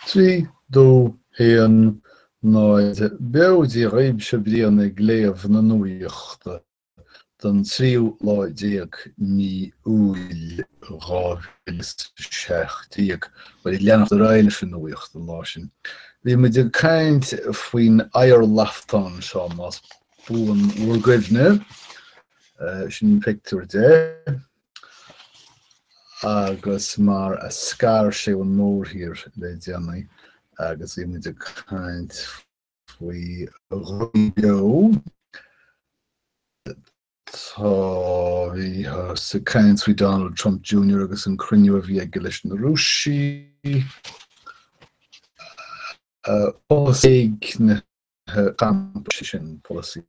Trí, dó, haon, náid, beo Dia dhaoibh, seo Brian ag léamh na nuachta don tríú lá déag mí Iúil 2017. Bhuel, ag leanacht ar aghaidh leis an nuacht an lá sin? Bhí muid ag caint faoin oighearlaftán seo más buan bhur gcuimhne, sin pictiúr de. agus mar a scar sé ón mórthír le déanaí agus bhí muid ag caint faoi dhrugaí beo, tá, bhíothas ag caint faoi Donald Trump Junior agus an cruinniú a bhí aige leis na Rúisigh, polasaithe na gcampas sin, polasaithe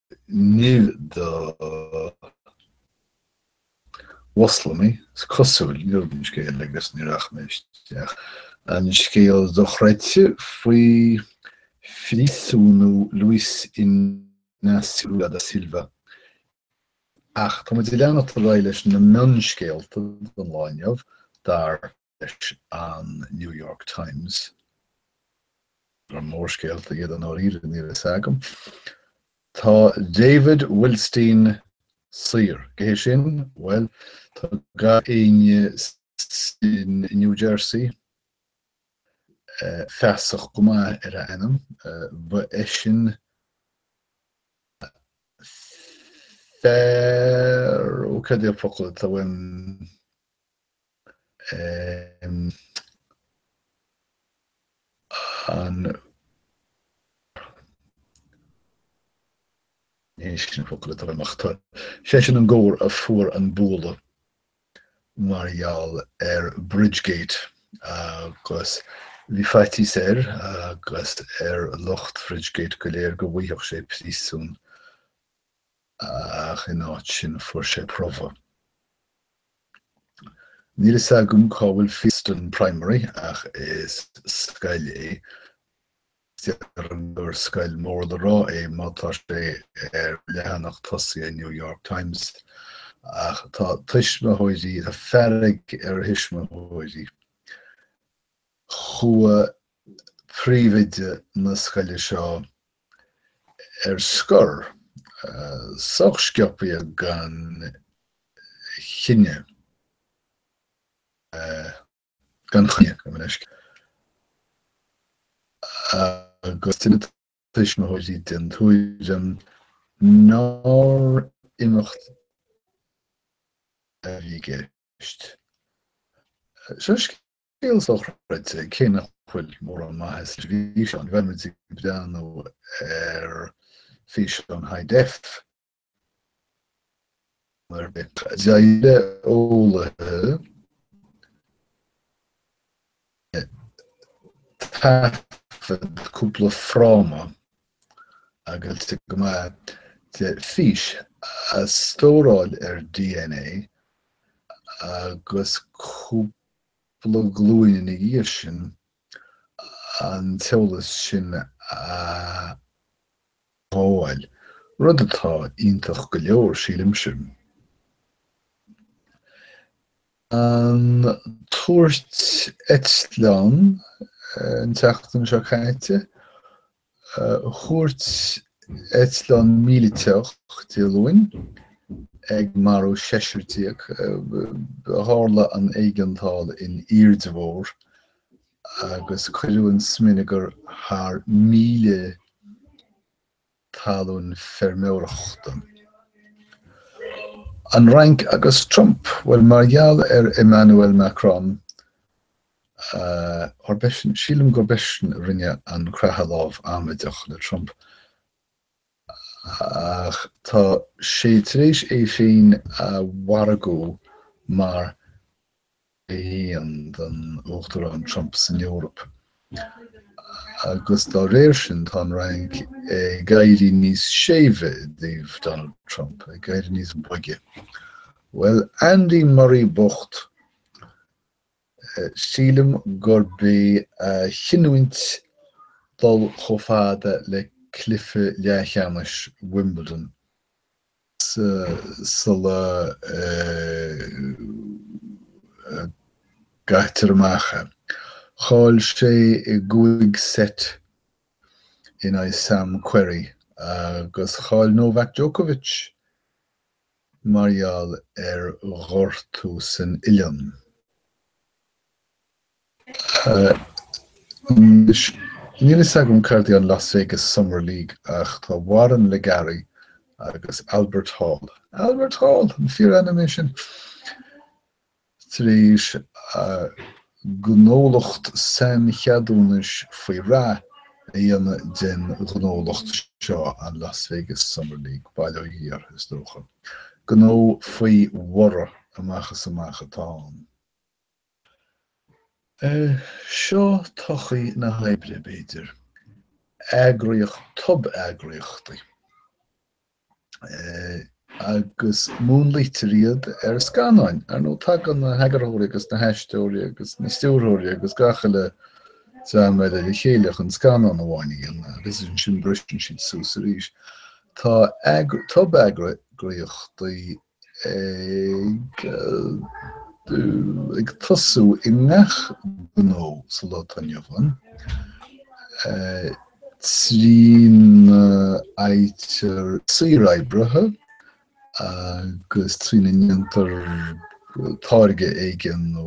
Níl do Mhoslamaigh, is cosúil, níl an scéal agus ní rachaidh mé isteach. An scéal dochreidte faoi phríosúnú Luiz Inácio da Silva. Ach tá muid ag leanacht ar aghaidh leis na mionscéalta don lá inniu, dar. leis an New York Times gur mórscéalta iad i ndáiríre, níl a fhios agam. Tá David Wildstein saor. Cé hé sin? Bhuel, tá gach éinne in New Jersey feasach go maith ar a ainm. Ba eisean fear, ó, cad é an focal atá uaim? Sé sin an gabhar a fuair an bualadh mar gheall ar Bridgegate agus bhí faitíos air agus ar lucht Bridgegate go léir go bhfaigheadh sé príosún ach in áit sin fuair sé promhadh. Níl fhios agam cá bhfuil Fieldston Primary ach is scoil é agus déarfainn gur scoil mór le rá é má tá sé ar leathanach tosaigh an New York Times. Ach tá tuismitheoirí tá fearg ar thuismitheoirí. Chuaigh príomhoide na scoile seo, ar scor, sách sciobtha gan choinne, gan choinne go bunúsach, agus tá na tuismitheoirí den tuairim nár imeacht a bhí i gceist. Seo scéal. Scéal sochreidte, cé nach bhfuil mórán maitheasa sa bhfíseán. Ní bheadh muid ag breathnú ar físeán high def nó ar bith. D'éirigh le eolaithe taifead cúpla fráma agus ag coimeád de fís a stóráil ar DNA agus cúpla. Cúpla glúin ina dhiaidh sin an t-eolas sin a ghabháil, rud atá iontach go leor, sílimse. An tuairt eitleáin an tseachtain seo caite, Thuairt eitleán míliteach Dé Luain ag marú seisear déag. Tharla an éigeandáil in airde mhór agus cuireadh an smionagar thar míle talún feirmeoireachta. An Fhrainc agus Trump, bhuel mar gheall ar Emmanuel Macron Sílim gurb eisean a rinne an creathadh lámh amaideach le Trump, ach tá sé tar éis é féin a mhargú mar Uimhir 1 don Uachtarán Trump san Eoraip, agus dá réir sin tá an Fhrainc ag éirí níos séimhe i dtaobh Donald Trump, ag éirí níos boige. Bhuel, Andy Murray bocht! Sílim gurb é a chinniúint dul chomh fada le cluiche leathcheannais Wimbledon sula gcaitear amach é. Chaill sé i gcúig seit in aghaidh Sam Querrey agus chaill Novak Djokovic mar gheall ar ghortú san uillinn. Anois, níl fhios agam céard é an Las Vegas Summer League ach tá Warren LeGarie agus Albert Hall, Albert Hall! an fíor-ainm é sin? tar éis gnólacht saincheadúnais faoi rath a dhéanamh den ghnólacht seo, an Las Vegas Summer League, bail ó Dhia air, is dócha. Gnó faoi bhorradh amach is amach atá ann. Seo todhchaí na hoibre, b'fhéidir. Eagraíocht tob-eagraíochtaí. agus múnlaítear iad ar scannáin. Ar ndóigh, tagann na heagarthóirí agus na haisteoirí agus na stiúrthóirí agus gach uile dream eile le chéile chun scannán amháin a dhéanamh, agus ansin briseann siad suas arís. Tá tob-eagraíochtaí ag tosú i ngach gnó sa lá atá inniu ann, trína fhaightear saoroibrithe agus trína ndéantar táirge éigin nó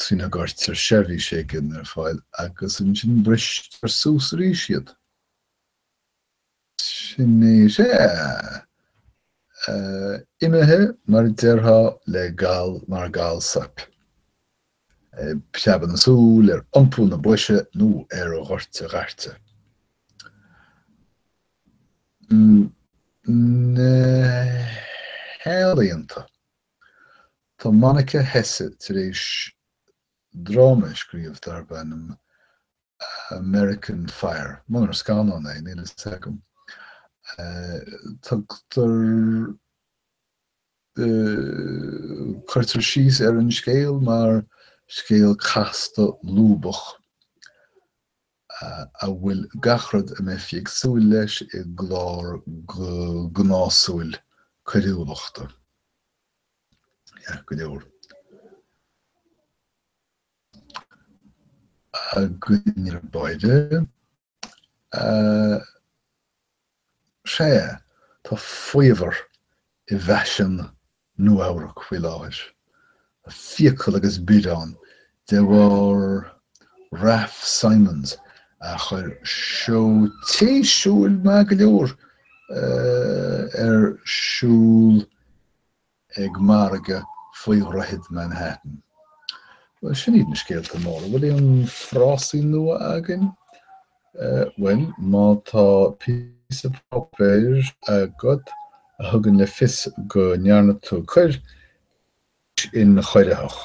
trína gcuirtear seirbhís éigin ar fáil agus ansin bristear suas arís iad. Sin é, is ea. Imithe, mar a déarfá, le gal mar gal soip. Ag preabadh na súl ar iompú na boise nó ar dhoirte dhairte. Na healaíonta. Tá Monica Hesse tar éis dráma a scríobh darb ainm American Fire, munar scannán é, níl a fhios agam. Tugtar, cuirtear síos ar an scéal mar scéal casta lúbach a bhfuil gach rud a mbeifí ag súil leis i gclár gnásúil coiriúlachta. Ait go leor. againn ar báire. Sea, tá faobhar i bhfaisean Nua-Eabhrac faoi láthair, fiacail agus biorán de bharr Raf Simons a chuir seó téisiúil maith go leor ar siúl, ag margadh faoi dhroichead Manhattan. Bhuel, sin iad na scéalta móra. Bhfuil aon frásaí nua againn? Bhuel, má tá píosa páipéir agat a thugann le fios go ndearna tú coir, is ionchoiritheach.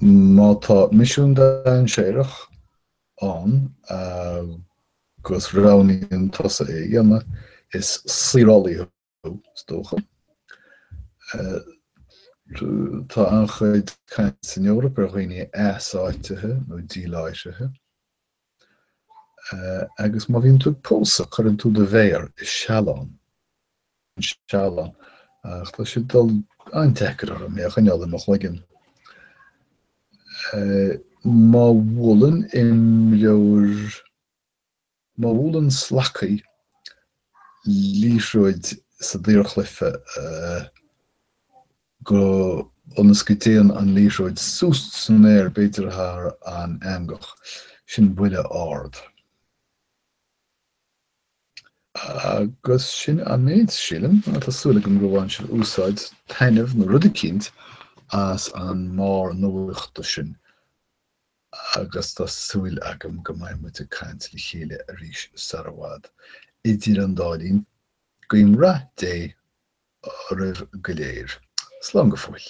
Má tá misiún dainséarach, ann agus roghnaíonn tusa é a dhéanamh, is saorálaí thú, is dócha. Tá an-chuid caint san Eoraip ar dhaoine easáitithe nó díláithrithe, agus má bhíonn tú ag pósadh, cuireann tú do mhéir i sealán an seal, ach tá sé ag dul an-deacair orm é a choinneáil i mo chloigeann. Má bhuaileann imreoir, má bhuaileann slacaí liathróid sa daorchluife go, ionas go dtéann an liathróid suas san aer, b'fhéidir thar an eangach, sin buille ard. Agus sin an méid, sílim. Tá súil agam gur bhain sibh úsáid, taitneamh, nó rud eicínt, as an mbarr nuachta sin, agus tá súil agam go mbeidh muid ag caint le chéile arís sar i bhfad. Idir an dá linn, guím rath Dé oraibh go léir. Slán go fóill.